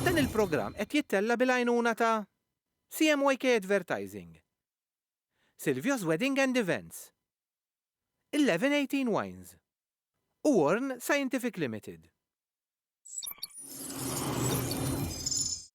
Dan il-programm qed jittella' bil-għajnuna ta' CMYK Advertising, Silvio's Wedding and Events, 1118 Wines u Warn Scientific Limited.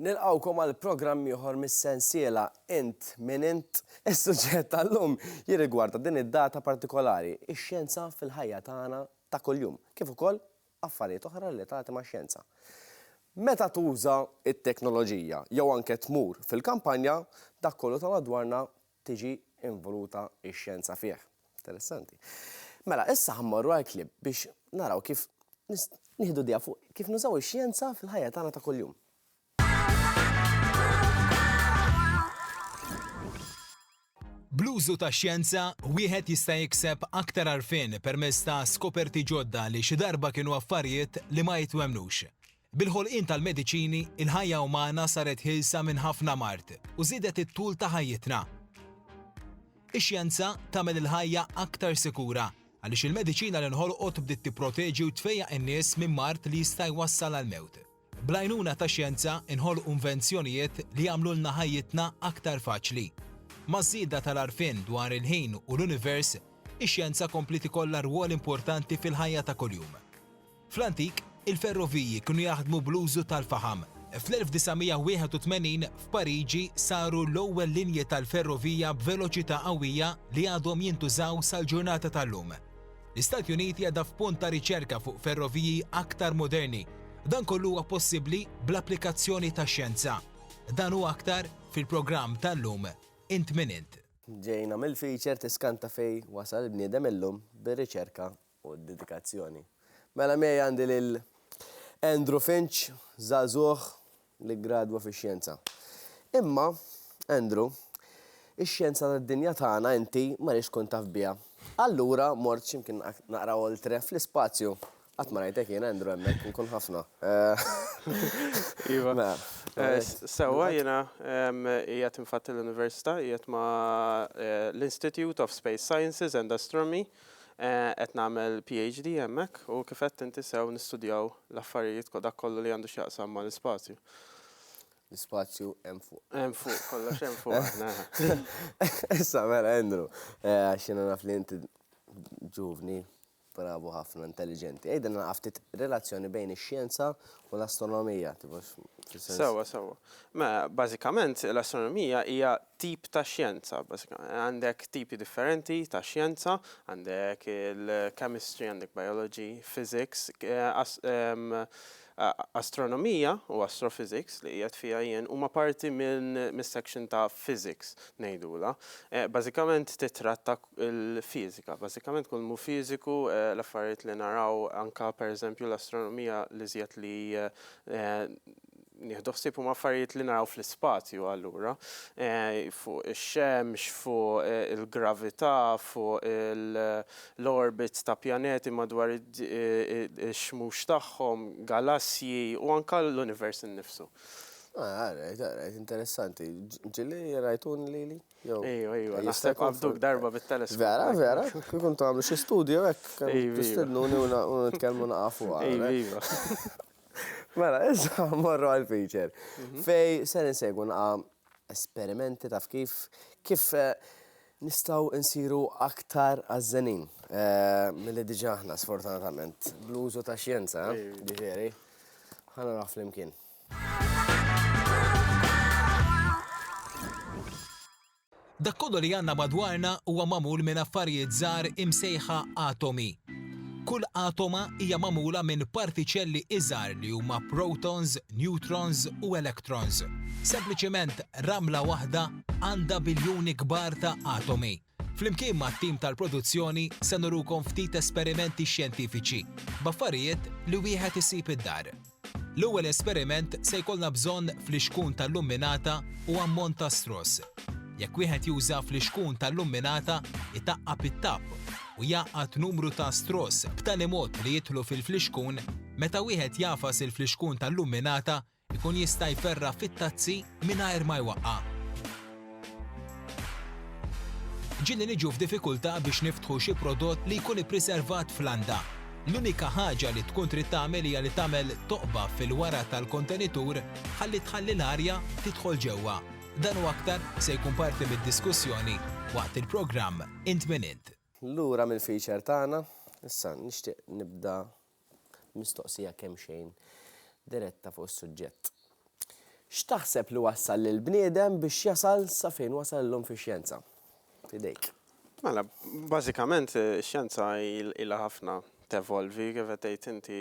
Nilqgħukom għal programm ieħor mis-sensiela Int Min Int? Is-suġġett tal-lum jirrigwarda din id-data partikolari, ix-xjenza fil-ħajja tagħna ta' kuljum, kif ukoll affarijiet oħra relatati max-xjenza. Meta tuża t-teknoloġija jew anke tmur fil-kampanja, dak kollu ta' madwarna tiġi involuta x-xjenza fih. Interessanti. Mela, issa ħa mmorru għal clip biex naraw kif nieħdu idea fuq kif nużaw ix-xjenza fil-ħajja tagħna ta' kuljum. Bl-użu tax-xjenza, wieħed jista' jikseb aktar għarfien permezz ta' skoperti ġodda li xi darba kienu affarijiet li ma jitwemmnux. Bil-ħolqien tal-mediċini, il-ħajja umana saret ħielsa minn ħafna mard u żiedet it-tul ta' ħajjitna. Ix-xjenza tagħmel il-ħajja aktar sikura għaliex il-mediċina li nħolqot bdiet tipproteġi u tfejjaq in-nies minn mard li jista' jwassal għall-mewt. Bl-għajnuna tax-xjenza nħolqu invenzjonijiet li jagħmlulna ħajjitna aktar faċli. Maż-żieda tal-għarfien dwar il-ħin u l-univers, ix-xjenza kompliet ikollha rwol importanti fil-ħajja ta' kuljum. Fl-antik, il-ferroviji kienu jaħdmu bl-użu tal-faħam. Fl-1981, f'Pariġi saru l-ewwel linji tal-ferrovija b'veloċità qawwija li għadhom jintużaw sal-ġurnata tal-lum. L-Istati Uniti għadha f'punt ta' riċerka fuq ferroviji aktar moderni. Dan kollu huwa possibbli bl-applikazzjoni tax-xjenza. Dan u aktar fil-programm tal-lum Int Min Int. Ġejna mill-feature Tiskanta Fejn Wasal il-Bniedem Illum bir-riċerka u d-dedikazzjoni. Mela miegħi għandi lil Andrew Finch, żagħżugħ li ggradwa fix-xjenza. Imma, Andrew, ix-xjenza tad-dinja tagħna inti ma rridx tkun taf biha. Allura mort xi mkien naqra oltre, fl-ispazju. Qatt ma rajtek jien, Andrew, hemmhekk, inkun ħafna. Iva. Sewwa jiena qiegħed infatti l-università, qiegħed ma' l-Institute of Space Sciences and Astronomy. Qed nagħmel PhD hemmhekk u kif għedt inti sew nistudjaw l-affarijiet ko- dak kollu li għandu x'jaqsam ma' l-ispazju. L-ispazju hemm fuq. Hemm fuq, kollox hemm fuq aħna. Issa mela Andrew, eh, għax jiena naf li inti ġuvni, bravu ħafna, intelliġenti. Għidilna naqaf ftit relazzjoni bejn ix-xjenza u l-astronomija, tipo x- fis-sens- Sewwa, sewwa. Mela, bażikament l-astronomija hija tip ta' xjenza, għandek tipi differenti ta' xjenza, għandek il-chemistry, għandek biology, physics, astronomija u astrophysics li qiegħed fiha jien huma parti mis-section ta' physics ngħidulha. Bażikament tittratta l-fiżika, bażikament kull mhu fiżiku, l-affarijiet li naraw anke pereżempju l-astronomija l-iżjed li nieħdu ħsieb huma affarijiet li naraw fl-ispazju allura, fuq ix-xemx, fuq il-gravità, fuq l-orbits ta' pjaneti madwar ix-xmux tagħhom, galassji u anke l-univers innifsu. Ah, all right, all right, interessanti. Ġieli rajtuni lili? Ejju, ejju, nista' qabduk darba bit-teleskop. Vera, vera, kif intom għamlu xi studju hekk, tistednuni u nitkellmu naqafu. Ejju, ejju. Mela, issa morru għal feature. Mhm. Fej ser insegwu naqa esperimenti taf kif kif eh, nistaw insiru aktar għazzenin. Eh, Mill-li diġa ħna, sfortunatament, bl-użu ta' xjenza, eh, ġifiri, ħana naf l-imkien. Dak kollu li għandna madwarna huwa magħmul minn affarijiet żgħar imsejħa atomi. Kull atoma hija magħmula minn partiċelli iżgħar li huma protons, neutrons u electrons. Sempliċement ramla waħda għandha biljuni kbar ta' atomi. Flimkien mat-tim tal-produzzjoni se nurukom ftit esperimenti xjentifiċi b'affarijiet li wieħed isib id-dar. L-ewwel esperiment se jkollna bżonn flixkun tal-lumminata u ammont ta' stross. Jekk wieħed juża flixkun tal-lumminata, itaqqab it-tapp u jgħaqqad numru ta' stross b'tali mod li jidħlu fil-flixkun, meta wieħed jagħfas il-flixkun tal-lumminata jkun jista' jperra' fit-tazzi mingħajr ma jwaqqa'. Ġieli niġu f'diffikultà biex niftħu xi prodott li jkun ippriservat f'landa. L-unika ħaġa li tkun trid tagħmel hija li tagħmel toqba fil-wara tal-kontenitur ħalli tħalli l-arja tidħol ġewwa. Dan u aktar se jkun parti mid-diskussjoni waqt il-programm Int Min Int. Lura mill-feature tagħna, issa nixtieq nibda Mistoqsija kemxejn diretta fuq is-suġġett. X'taħseb li wassal lill-bniedem biex jasal sa fejn wasal illum fix-xjenza? F'idejk. Mela, bażikament ix-xjenza ilha ħafna tevolvi, kif qed tgħid inti,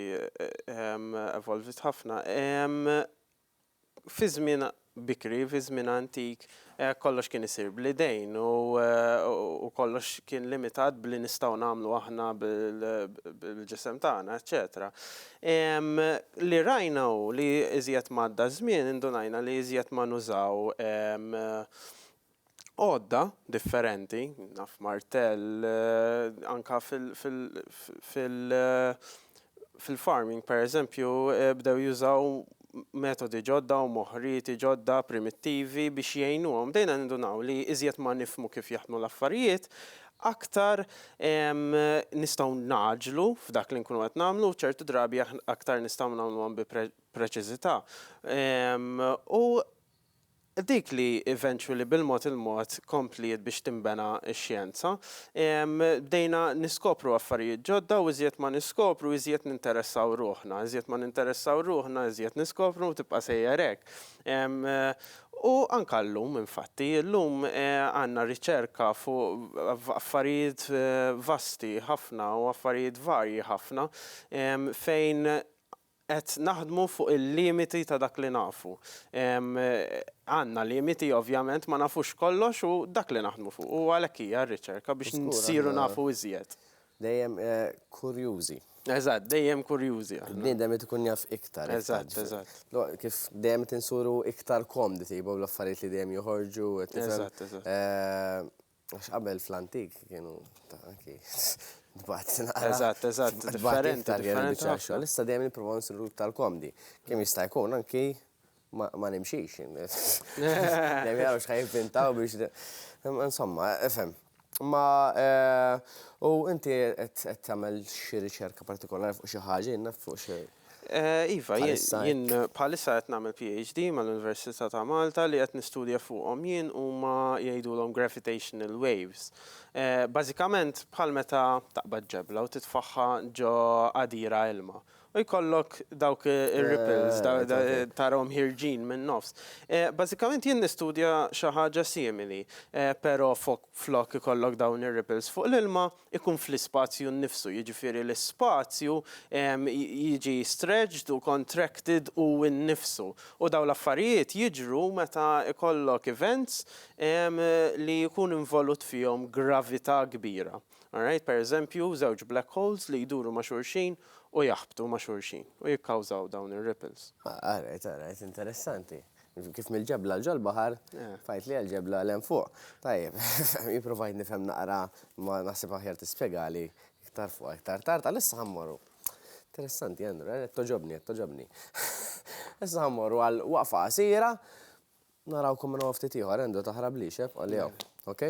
evolviet ħafna. Fi żmien bikri, fi żmien antik, kollox kien isir bl-idejn u kollox kien limitat b'li nistgħu nagħmlu aħna bil-ġisem tagħna, eċċetera. Li rajna hu li iżjed m'għadda ż-żmien indunajna li iżjed ma nużaw għodda differenti, naf martell, anke fil-farming pereżempju bdew jużaw metodi ġodda u moħrieti ġodda primittivi biex jgħinuhom. Bdejna nindunaw li iżjed ma nifhmu kif jaħdmu l-affarijiet, aktar nistgħu ngħaġġlu f'dak li nkunu qed nagħmlu u ċertu drabi aktar nistgħu nagħmluhom bi preċiżità. U Dik li eventually bil-mod il-mod kompliet biex tinbena x-xjenza. Bdejna niskopru affarijiet ġodda u iżjed ma niskopru iżjed ninteressaw ruħna. Iżjed ma ninteressaw ruħna iżjed niskopru u tibqa' sejjer hekk. U anke llum infatti, llum għandna riċerka fuq affarijiet vasti ħafna u affarijiet varji ħafna fejn Qed naħdmu fuq il-limiti ta' dak li nafu. Għandna limiti ovvjament, ma nafux kollox u dak li naħdmu fuqu u għalhekk hija r-riċerka biex nsiru nafu iżjed. Dejjem kurjużi. Eżatt, dejjem kurjużi aħna. Il-bniedem irid ikun jaf iktar. Eżatt, eżatt. Kif dejjem qed insuru iktar komdi, tibgħu l-affarijiet li dejjem joħorġu. Eżatt, eżatt. Għax qabel fl-antik kienu ta' anki tbagħat naqra. Eżatt, eżatt, differenti tal-jien xogħol. Issa dejjem nipprova nsiru iktar komdi. Kemm jista' jkun anki ma nimxix. Dejjem jaraw x'ħa jivvintaw biex. Insomma, ifhem. Ma u inti qed tagħmel xi riċerka partikolari fuq xi ħaġa, jinnaf fuq xi. Iva, jien bħalissa qed nagħmel PhD mal-Università ta' Malta li qed nistudja fuqhom jien huma jgħidulhom gravitational waves. Bażikament bħal meta taqbad ġebla u titfagħha ġo għadira ilma u jkollok dawk ir-ripples tarahom ħierġin min-nofs. Bażikament jien nistudja xi ħaġa simili, però flok ikollok dawn ir-ripples fuq l-ilma, ikun fl-ispazju nnifsu, jiġifieri l-ispazju jiġi stretched u contracted hu nnifsu. U dawn l-affarijiet jiġru meta jkollok events li jkun involut fihom gravità kbira. Alright? Per eżempju, żewġ black holes li jduru ma' xulxin u jaħbtu ma' xulxin u jikkawżaw dawn ir-ripples. Alright, alright, interessanti. Kif mill-ġebla ġol baħar, tgħidli għall-ġebla 'l hemm fuq. Tajjeb, jien provajt nifhem naqra imma naħseb aħjar tispjegali iktar fuqha iktar tard. Għalissa ħa mmorru. Interessanti Andrew, qed togħġobni, qed togħġobni. Issa ħa mmorru għal waqfa qasira, narawkom minn hawn ftit ieħor. Andrew taħrablix, eh, bqagħli hawn. Ok?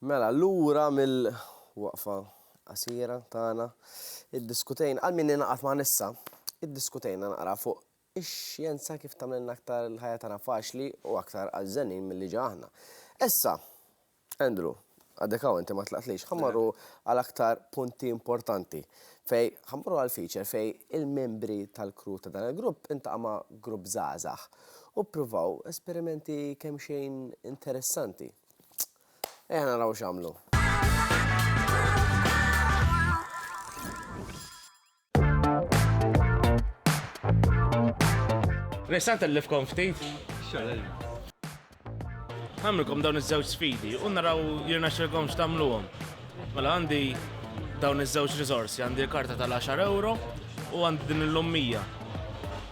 Mela, lura mill. Waqfa qasira tagħna, iddiskutejna, għal min ingħaqad magħna issa, iddiskutejna naqra fuq ix-xjenza kif tagħmlilna aktar il-ħajja tagħna faċli u aktar għażżenin milli ġa aħna. Issa, Andrew, għadek hawn inti ma tlaqtlix, ħa mmorru għal aktar punti importanti fejn ħa mmorru għal feature fejn il-membri tal-crew ta' dan il-grupp intaqa' ma' grupp żgħażagħ u ppruvaw esperimenti kemxejn interessanti. Ejja naraw x'għamlu. Nista' ntellifkom ftit? Għamilkom dawn iż-żewġ sfidi u naraw jirna xilkom x'tamluhom. Mela għandi dawn iż-żewġ riżorsi, għandi karta tal-10 euro u għandi din il-lummija.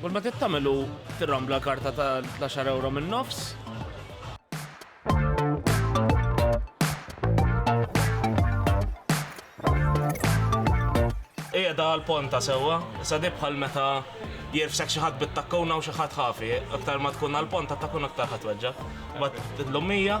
Kull ma trid tagħmel hu tirrambla l-karta ta' tlax-xar ewro min-nofs. qiegħda għal ponta sewwa, sa bħal meta jirfsek xi ħadd bit-takkuna u xi ħadd ħafi, aktar ma tkun għal ponta takkun aktar ħadd weġġa. Bat l-lummija,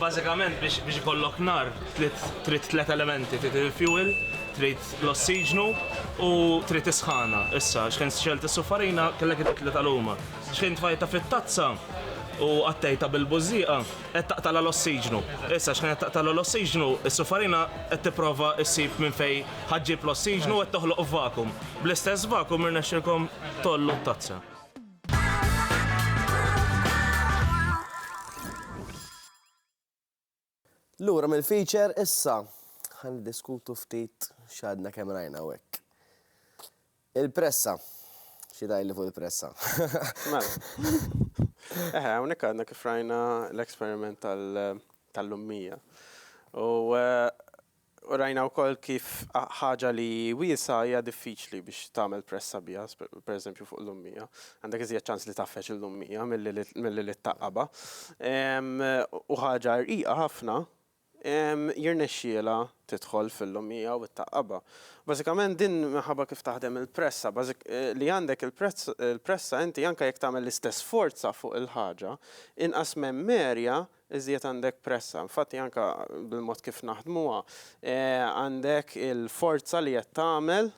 Bażikament biex ikollok nar trid tliet elementi, trid il-fjuwil, trid l-ossiġnu u trid is-sħana. Issa, xħin xelt is-suffarina kellek it-tliet tal-huma. Xħin tfajta fit-tazza u qattejta bil-bużżieqa qed taqtala l-ossiġnu. Issa xħin qed taqtala l-ossiġnu, is-suffarina qed tipprova ssib minn fejn ħaġġib l-ossiġnu qed toħloq vakum. Bl-istess vakum irnexxilkom tgħollu t-tazza. Lura mill-feature issa ħan diskutu ftit x'għadna kemm rajna hekk. Il-pressa. Xi li fuq il-pressa. Mela. Eħe, hawnhekk għadna kif rajna l-eksperiment tal-lummija. U eh, U rajna wkoll kif ħaġa li wiesgħa hija diffiċli biex tagħmel pressa biha, pereżempju fuq l-ummija. Għandek iżjed ċans li tgħaffeġ lill-ummija milli li tgħaqqabha. U ħaġa rqiqa ħafna jirnexxielha tidħol fil-ummija u tgħaqqabha. Bażikament din minħabba kif taħdem il-pressa, li għandek il-pressa inti anke jekk tagħmel l-istess forza fuq il-ħaġa, inqas memmerja iżjed għandek pressa. Infatti anke bil-mod kif naħdmuha għandek il-forza li qed tagħmel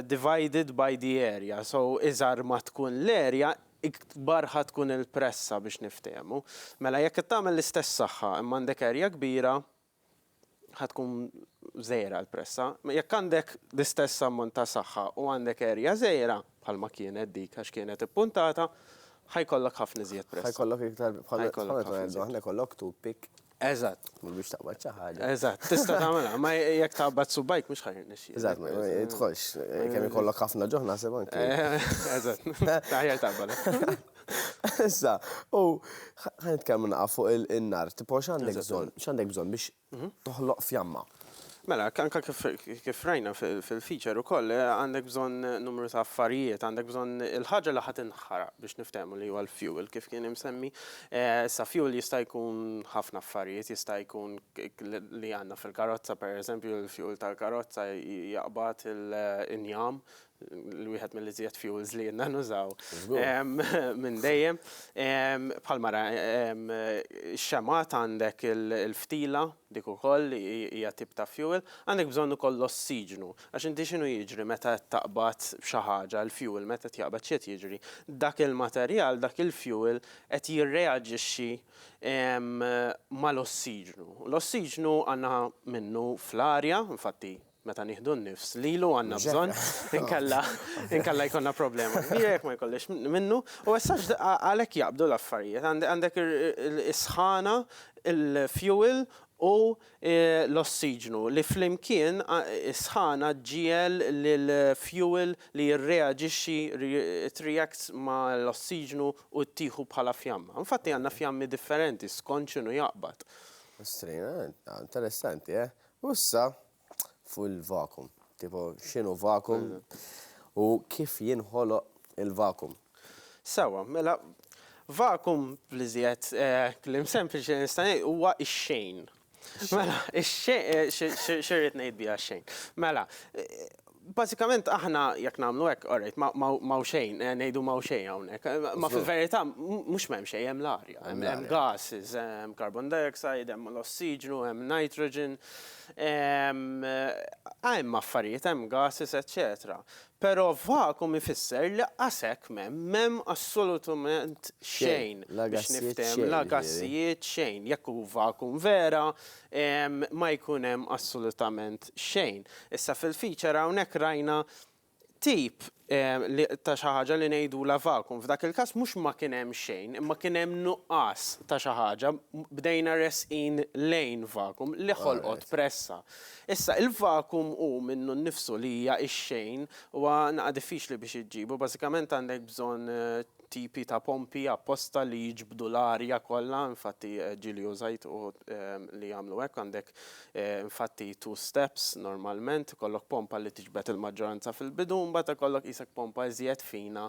divided by the area. So iżgħar ma tkun l-area, ikbar ħa tkun il-pressa biex niftehmu. Mela jekk qed tagħmel l-istess saħħa imma għandek area kbira, ħa tkun żgħira l-pressa. Jekk għandek l-istess ammont ta' saħħa u għandek erja żgħira, bħalma kienet dik għax kienet ippuntata, ħa jkollok ħafna iżjed pressa. Ħa jkollok iktar bħal ħa jkollok tu pik. Eżatt. Mhux biex taqbad xi ħaġa. Eżatt, tista' tagħmilha, ma jekk taqbad subajk mhux ħajr nixxi. Eżatt, ma jidħolx, kemm ikollok ħafna ġoħ naħseb anke. Eżatt, taħjar taqbad. Issa, u ħa nitkellmu naqa' fuq in-nar, tipo x'għandek bżonn, x'għandek bżonn biex toħloq fjamma? Mela, anke kif rajna fil-feature ukoll, għandek bżonn numru ta' affarijiet, għandek bżonn il-ħaġa li ħa tinħaraq biex niftehmu li huwa l-fuel kif kien imsemmi. Issa fuel jista' jkun ħafna affarijiet, jista' jkun li għandna fil-karozza, pereżempju l-fuel tal-karozza jaqbad il-injam l-wieħed mill-iżjed fuels li jenna nużaw minn dejjem. Bħal mara, xemat għandek il-ftila, dik ukoll hija tip ta' fuel, għandek bżonn ukoll l-ossiġnu. Għax inti x'inhu jiġri meta qed taqbad xi ħaġa, il-fuel meta qed jaqbad x'qed jiġri? Dak il-materjal, dak il-fuel qed jirreaġixxi mal-ossiġnu. L-ossiġnu għandna minnu fl-arja, infatti meta nieħdu n-nifs lilu għandna bżonn, inkella jkollna problema kbira jekk ma jkollix minnu, u essax għalhekk jaqbdu l-affarijiet. Għandek is-sħana, il-fuel u l-ossiġnu li flimkien is-sħana ġġiegħel lill-fuel li jirreaġixxi, it reacts ma' l-ossiġnu u ttieħu bħala fjamma. Infatti għandna fjammi differenti skont x'inhu jaqbad. Ostri, interessanti, eh? U issa, fuq il-vakum. Tipo, x'inhu vakum u kif jinħoloq il-vakum. Sewwa, mela, vakum bl-iżjed kliem sempliċi li nista' ngħid huwa x-xejn. Mela, x-xejn, x'irrid ngħid biha x-xejn? Mela, Bażikament aħna jekk nagħmlu hekk, orajt, ma hawn xejn, ngħidu ma hawn xejn hawnhekk. Ma fil-verità mhux m'hemm xejn, hemm l-arja, hemm gases, hemm carbon dioxide, hemm l-ossiġnu, hemm nitrogen, hemm affarijiet, hemm gases, eċċetera. Però vacuum ifisser li qasek m'hemm, m'hemm assolutament xejn biex niftehmu, la gassijiet, xejn. Jekk hu vacuum vera, ma jkun hemm assolutament xejn. Issa fil-feature hawnhekk rajna tip ta' xi ħaġa li ngħidulha vacuum. F'dak il-każ mhux ma kien hemm xejn, imma kien hemm nuqqas ta' xi ħaġa, bdejna resqin lejn vacuum li ħolqot pressa. Issa il-vacuum hu minnu nnifsu li hija x-xejn, huwa naqa' diffiċli biex iġġibu, bażikament għandek bżonn tipi ta' pompi apposta li jiġbdu l-arja kollha, infatti ġieli użajt uħud li jagħmlu hekk, għandek infatti two steps normalment, ikollok pompa li tiġbed il-maġġoranza fil-bidu, mbagħad ikollok qisek pompa iżjed fina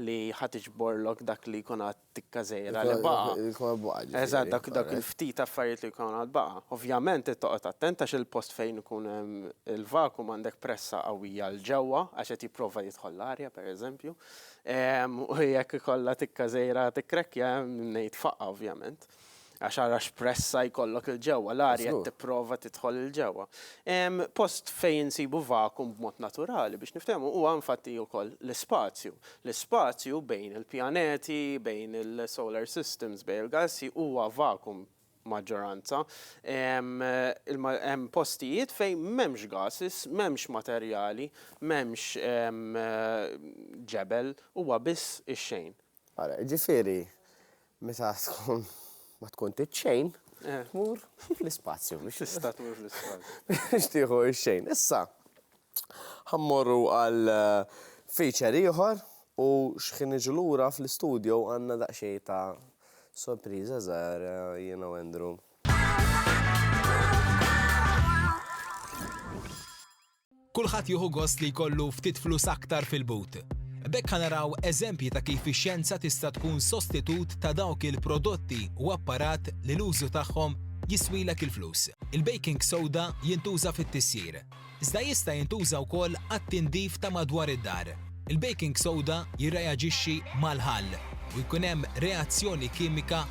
li ħa tiġborlok dak li jkun għad tikka żgħira li baqa'. Li jkun għad baqa' ġifieri. Eżatt, dak dak il-ftit affarijiet li jkun għad baqa'. Ovvjament trid toqgħod attent għax il-post fejn ikun hemm il-vacuum għandek pressa qawwija 'l ġewwa għax qed jipprova jidħol l-arja pereżempju, U jekk ikollha tikka żgħira tikkrekkja, ngħid faqgħa ovvjament. Għax ara x'pressa jkollok 'il ġewwa, l-arja qed tipprova tidħol 'il ġewwa. Post fejn insibu vakum b'mod naturali, biex niftehmu, huwa infatti wkoll l-ispazju. L-ispazju bejn il-pjaneti, bejn il-solar systems, bejn il-galassi huwa vakum maġġoranza, hemm postijiet fejn m'hemmx gases, m'hemmx materjali, m'hemmx ġebel, huwa biss ix-xejn. Ara, jiġifieri meta tkun ma tkun trid xejn, tmur fl-ispazju biex. Tista' tmur fl-ispazju. Biex tieħu x-xejn. Issa, Ħa mmorru għal feature ieħor u x'ħin niġu lura fl-istudio għandna daqsxejn ta' sorpriża żgħira jiena u Andrew. Kulħadd jieħu gost li jkollu ftit flus aktar fil-but. B'hekk ħa naraw eżempji ta' kif ix-xjenza tista' tkun sostitut ta' dawk il-prodotti u apparat li l-użu tagħhom jiswilek il-flus. Il-baking soda jintuża fit-tissir. iżda jista' jintuża wkoll għat-tindif ta' madwar id-dar. Il-baking soda jirreaġixxi mal-ħall u jkun hemm reazzjoni kimika.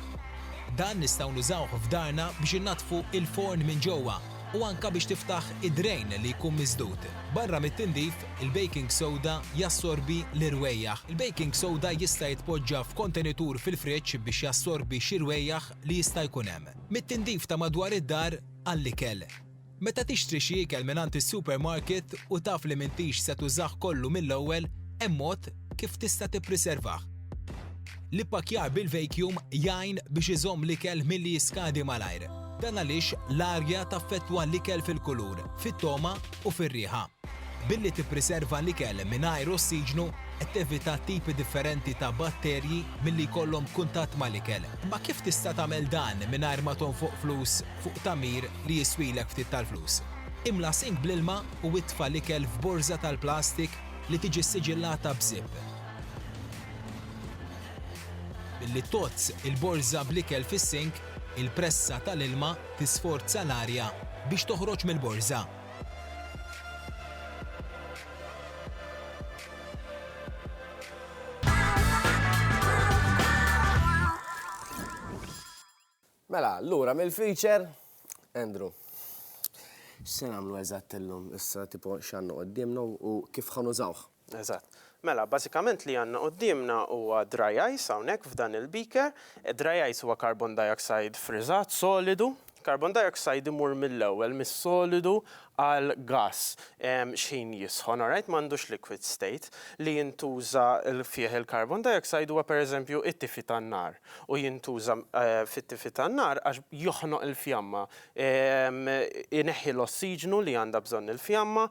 Dan nistgħu nużawh f'darna biex innaddfu l-forn minn ġewwa u anke biex tiftaħ id-drejn li jkun misdud. Barra mit-tindif, il-baking soda jassorbi l-irwejjaħ. Il-baking soda jista' jitpoġġa f'kontenitur fil-friġġ biex jassorbi xi rwejjaħ li jista' jkun hemm mit-tindif ta' madwar id-dar għall-ikel. Meta tixtri xi ikel mingħand is-supermarket u taf li m'intix se tużah kollu mill-ewwel, hemm mod kif tista' tippriservah. L-ippakkjar bil-vacuum jgħin biex iżomm l-ikel milli jiskadi malajr. Dan għaliex l-arja taffettwa l-ikel fil-kulur, fit-togħma u fir-riħa. Billi tippriserva l-ikel mingħajr ossiġnu, qed tevita tipi differenti ta' batterji milli jkollhom kuntatt mal-ikel. Imma kif tista' tagħmel dan mingħajr ma tonfoq flus fuq tagħmir li jiswilek ftit tal-flus. Imla sink bl-ilma u itfa' l-ikel f'borża tal-plastik li tiġi ssiġillata b'żipp. Billi tgħodd il-borża bl-ikel fis-sink, il-pressa tal-ilma tisforza l-arja biex toħroġ mill-borża. Mela, lura mill-feature, Andrew. X'se nagħmlu eżatt illum? Issa tipo x'għandna quddiemna u kif ħa nużawh? Eżatt. Mela, bażikament li għandna quddiemna huwa dry ice hawnhekk f'dan il-beaker. Dry ice huwa carbon dioxide friżat, solidu. Carbon dioxide imur mill-ewwel mis-solidu għal gass x'ħin jisħon, alright? M'għandux liquid state. Li jintuża fih il-carbon dioxide huwa pereżempju t-tifi tan-nar. u jintuża fit-tifi tan-nar għax joħnoq il-fjamma, ineħħi l-ossiġnu li għandha bżonn il-fjamma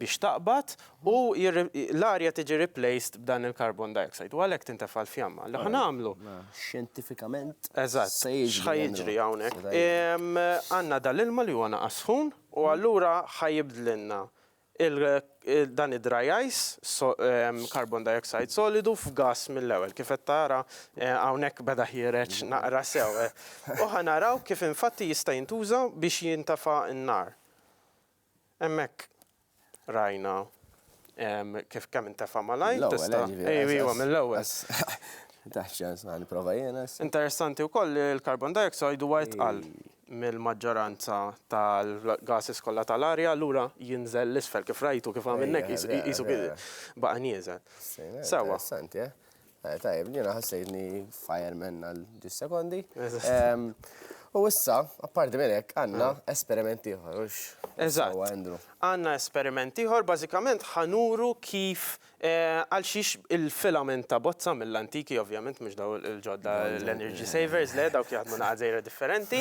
biex taqbad u l-arja tiġi replaced b'dan il-carbon dioxide u għalhekk tintefa' l-fjamma. Li ħa nagħmlu? Xjentifikament se jiġri. Eżatt, x'ħa jiġri hawnhekk? Għandna dal-ilma li huwa naqas sħun u allura ħa jibdlilna Dan id-dry ice, carbon dioxide solidu f'gass mill-ewwel, kif qed tara hawnhekk beda ħiereġ naqra sew, u ħa naraw kif infatti jista' jintuża biex jintefa' n-nar. Hemmhekk rajna kif kemm intefa' malajr, tista'. Mill-ewwel, ejja. Ejwa, mill-ewwel. Interessanti wkoll li l-carbon dioxide huwa itqal. mill-maġġoranza tal-gases kollha tal-arja, allura jinżel 'l isfel kif rajtu, kif għamilna hekk, qisu baqa' nieżel. Sewwa. Tajjeb, jiena ħassejtni fireman għal ġuss sekondi. U issa, apparti minn hekk, għandna esperiment ieħor, hux? Eżatt. Għandna esperiment ieħor, bażikament ħa nuru kif Għalxiex il-filament ta' bozza mill-antiki, ovvjament mhux dawn il-ġodda l-energy savers, le dawk jaħdmu naqa' dżejra differenti.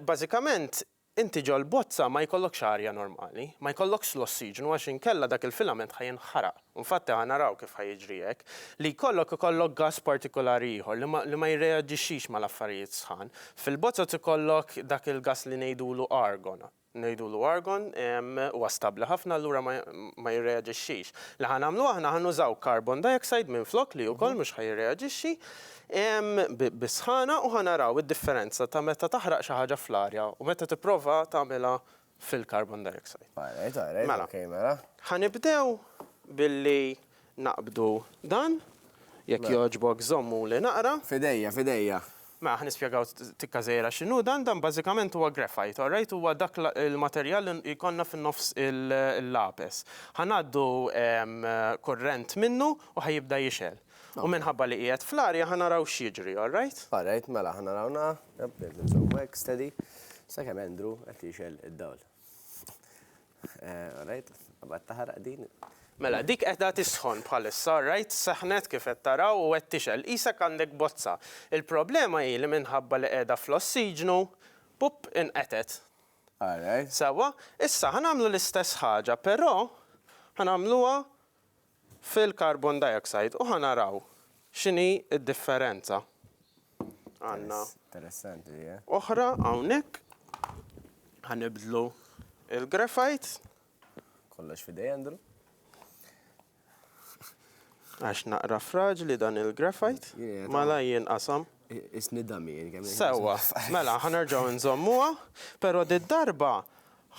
Bażikament, inti ġol-bozza ma jkollokx arja normali, ma jkollokx l-ossiġnu għax inkella dak il-filament ħa jinħaraq. U infatti ħa naraw kif ħa jiġri hekk. Li jkollok ikollok gass partikulari ieħor li ma li ma jirreaġixxix mal-affarijiet sħan. Fil-bozzoz ikollok dak il-gass li ngħidulu argon. Ngħidulu argon, huwa stabbli ħafna allura ma jirreaġixxix. Li ħa nagħmlu aħna ħa nużaw carbon dioxide minflok li wkoll mhux ħa jirreaġixxi bis-sħana u ħa naraw id-differenza ta' meta taħraq xi ħaġa fl-arja u meta tipprova tagħmilha fil-carbon dioxide. All right, all right, ok mela. Mela, ħa nibdew billi Naqbdu dan, jekk jogħġbok żommuli naqra. F'idejja, f'idejja. Mela ħa nispjegaw tikka żgħira x'inhu dan, dan bażikament huwa graphite, all right, huwa dak il-materjal li jkollna fin-nofs il-lapes. Ħa ngħaddu kurrent minnu u ħa jibda jixgħel. U minħabba li qiegħed fl-arja ħa naraw x'jiġri, all right? All right, mela ħa naraw na, jab, irrid inżomm hekk steady, sakemm Andrew qed jixgħel id-dawl. All right, qabad taħraq din. Mela, dik qiegħda tisħon bħalissa, all right, seħħnet kif qed taraw u qed tixgħel, qisek għandek bozza. Il-problema hi li minħabba li qiegħda fl-ossiġnu, pupp, inqetgħet. All right. Sewwa, issa ħa nagħmlu l-istess ħaġa, però ħa nagħmluha fil-carbon dioxide u ħa naraw x'inhi d-differenza. Għandna oħra hawnhekk. Ħa nibdlu l-graphite. Kollox f'idej Andrew. Għax naqra fraġli dan il-graphite. Malaj jinqasam. Qisni Damien kemm. Sewwa, mela ħa nerġgħu nżommuha, però did-darba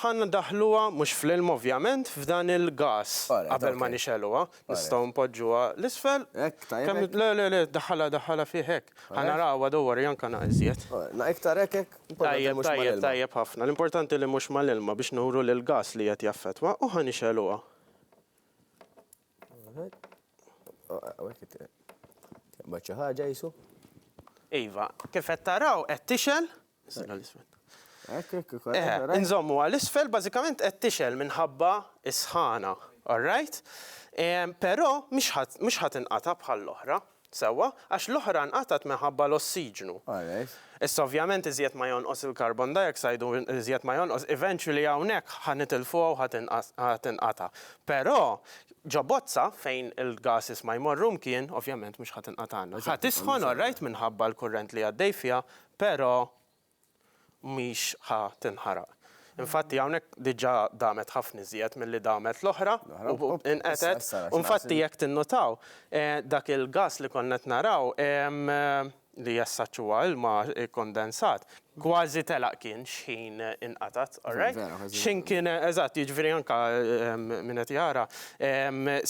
ħa ndaħħluha mhux fl-ilma ovvjament, f'dan il-gas qabel ma nixegħluha. Nistgħu npoġġuha 'l isfel. Hekk tajjeb? Le, le, le, daħħalha, daħħalha fih hekk. Ħa narawha, don't worry, anke naqra iżjed. Naqra iktar hekk, hekk? Tajjeb, tajjeb, tajjeb ħafna. L-importanti li mhux mal-ilma biex nuru li l-gas li qiegħed jaffettwa u ħa nixegħluha. Taqbad xi ħaġa jisu? Iva, kif qed taraw qed tixel. Inżommu għal isfel bażikament qed tixel minħabba is-sħana, all right? Però mhux ħadd inqata' bħall-oħra. Sewwa, għax l-oħra nqatgħet minħabba l-ossiġnu. Alright. Issa ovvjament iżjed ma jonqos il-carbon dioxide u iżjed ma jonqos, eventually hawnhekk ħa nitilfuha u ħa tinqata'. Però ġo bozza fejn il-gases ma jmorru mkien, ovvjament mhux ħa tinqatagħna. Ħa tisħon alright minħabba l-kurrent li għaddej fiha, però mhix ħa tinħaraq. Infatti hawnhekk diġà damet ħafna iżjed milli damet l-oħra u inqetgħet. U infatti jekk tinnutaw, dak il-gass li konna qed naraw li as such huwa ilma kkondensat, kważi telaq kien x'ħin inqatgħet, alright? X'ħin kien, eżatt, jiġifieri anke min qed jara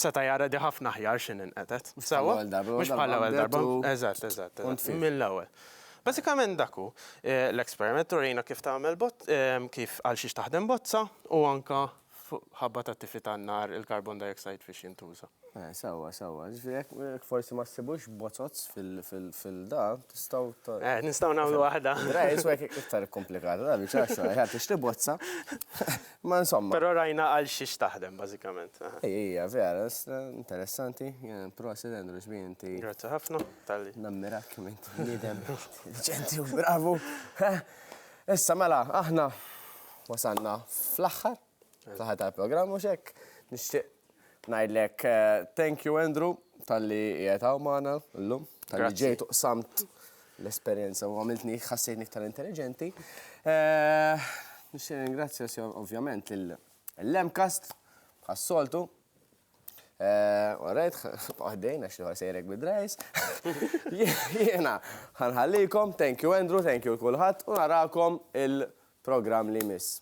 seta' jara di ħafna aħjar x'ħin inqetgħet. Sewwa? Mhux bħall-ewwel darba. Mhux bħall-ewwel darba. Eżatt, eżatt. Mill-ewwel. Bażikament dak hu l-experiment, turina kif tagħmel kif għal xiex taħdem bozza u anke fuq ħabba tat-tifi tan-nar il-carbon dioxide fiex jintuża. Eh, sewwa, sewwa. Ġifieri jekk forsi ma ssibux bozozz fil-da, tistgħu. Eh, nistgħu nagħmlu waħda. Rej, iswa jekk iktar komplikata, da biċċa xogħol, ħadd tixtri bozza. Ma insomma. Però rajna għal xiex taħdem bażikament. Ejja, vera, interessanti. Prosit Andrew xbien inti. Grazzi ħafna. Talli. Nammirak kemm int bniedem deċenti u bravu. Issa mela, aħna wasanna fl-aħħar, fl-aħħar tal-programm u xek. Nixtieq ngħidlek eh, thank you Andrew tal-li qiegħed hawn magħna llum, tal-li ġejt uqsamt l-esperjenza u għamiltni ħassejtni iktar intelligenti. Eh, nixtieq ringrazzja ovvjament l-Lemcast ħas-soltu Alright, għaddejn, għax liħor sejrek bid-drajs. Jena, ħanħallikom, thank you Andrew, thank you kulħadd, u narakom il-program li miss.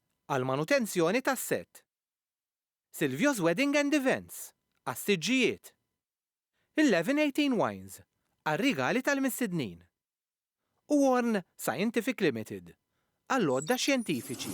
għall-manutenzjoni tas-sett, Silvio's Wedding and Events, għas-siġġijiet, Eleven Eighteen Wines, għar-rigali tal-mistednin, u Orne Scientific Limited, għall-għodda xjentifiċi.